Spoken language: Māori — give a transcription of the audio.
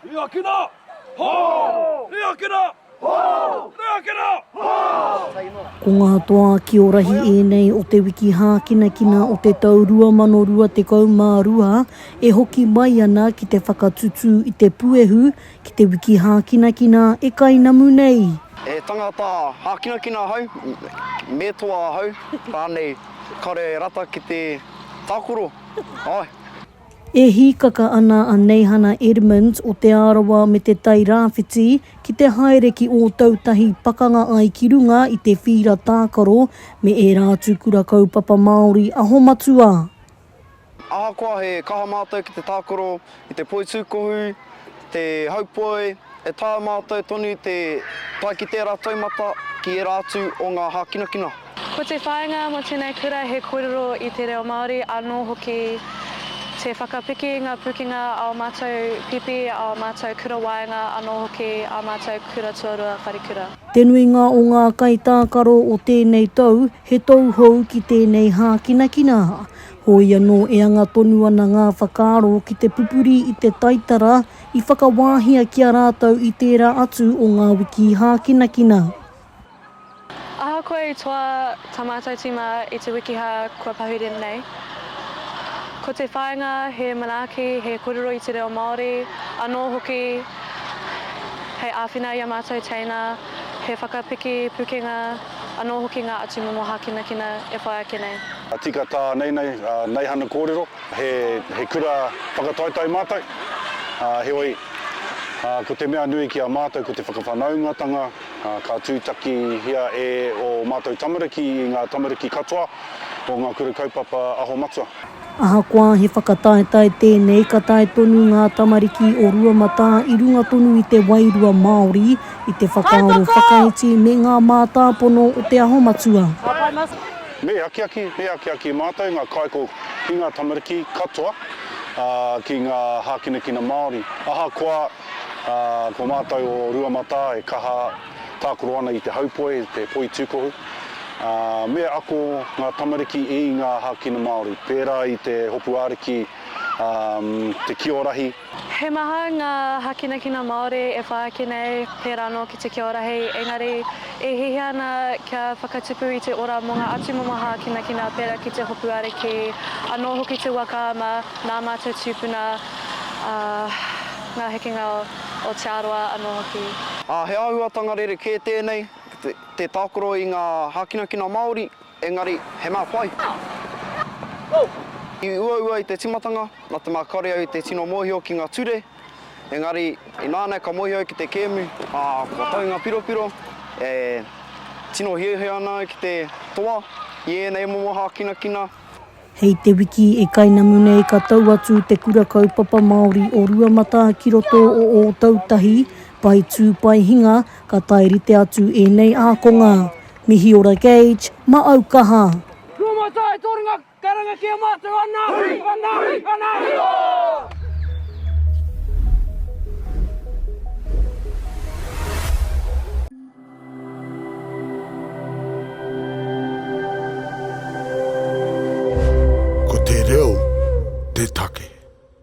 Reakina! Ho! Reakina! Ho! Reakina! Ho! Ko ngā toa ki ō rahi ēnei o te wiki hākinakina o te tau 2022 e hoki mai ana ki te whakatutū i te puehu ki te wiki hākinakina e kainamu nei. He tangata hākinakina ahau, me toa ahau, rānei, kāore e rata ki te tākoro, āe. E hīkaka ana a Neihana Edmonds o Te Arawa me Te Tai Rāwhiti ki te haere ki Ōtautahi pakanga ai ki runga i te whīra tākaro me ērā atu kura kaupapa Māori aho matua. Ahakoa he kaha mātou ki te tākaro i te poitūkohu, te haupoe, e taea mātou tonu te tae ki tērā taumata ki ērā atu o ngā hākinakina. Ko te whāinga mō tēnei kura he kōrero i te reo Māori anō hoki te whakapiki i ngā pūkenga a ō mātou pipi, a ō mātou kura waenga anō hoki ā mātou kura tuarua wharekura. Te nuinga o ngā kaitākaro o tēnei tau he tauhou ki tēnei hākinakina. Hoi anō e anga tonu ana ngā whakaaro ki te pupuri i te taitara i whakawāhia ki a rātou i tērā atu o ngā wiki hākinakina. Ahakoa i toa tā mātou tīma i te wikihā kua pahure nei, ko te whāinga he manaaki, he kōrero i te reo Māori, anō hoki hei āwhina i ā mātou teina, he whakapiki pukenga, anō hoki ngā atu momo hākinakina e whai ake nei. Tika tā Neinei, Neihana kōrero, he kura whakataetae mātou, heoi, ko te mea nui ki a mātou ko te whakawhanaungatanga, Ka tūtakihia e ō mātou tamariki i ngā tamariki katoa o ngā Kura Kaupapa Aho Matua. Ahakoa he whakataetae tēnei, ka tae tonu ngā tamariki o Ruamatā i runga tonu i te wairua Māori, i te whakaaro whakaiti me ngā mātāpono o Te Aho Matua. Me akiaki, me akiaki mātou ngā kāiko ki ngā tamariki katoa, ki ngā hākinakina Māori. Ahakoa. Ā, ko mātou o Ruamatā e kaha tākaro ana i te haupoe, te poi tūkohu, ā, me ako ngā tamariki i ngā hākina Māori, pērā i te hopu ariki, ā, te kio rahi. He maha ngā hākinakina Māori e pā ake nei, pērā anō ki te kio rahi, engari e hiahia ana kia whakatupu i te ora mō ngā atumomo hākinakina pērā ki te hopu ariki, anō hoki te waka ma ngā mātou tūpuna. ā, ngā hekenga o Te Arawa anō hoki. Ā, he āhuatanga rerekē tēnei, te tākaro i ngā hākinakina Māori, engari he mea pai. I uaua i te tīmatanga, nā te mea kāore au i te tino mōhio ki ngā ture, engari ināianei ka mōhio au ki te kēmu, ā, kua tau ngā piropiro, e tino hiahia ana au ki te toa i ēnei momo hākinakina. Hei te wiki i kainamu nei ka tau atu Te Kura Kaupapa Māori o Ruamatā ki roto o Ōtautahi, Pae Tū Pae Hinga, ka tae rite atu ēnei ākonga. Mihi ora Gage, ma au kaha! Ruamatā e torenga karanga ki a matou ana hui! Ana hui! Ana hui! Ooh! Ko te reo te take.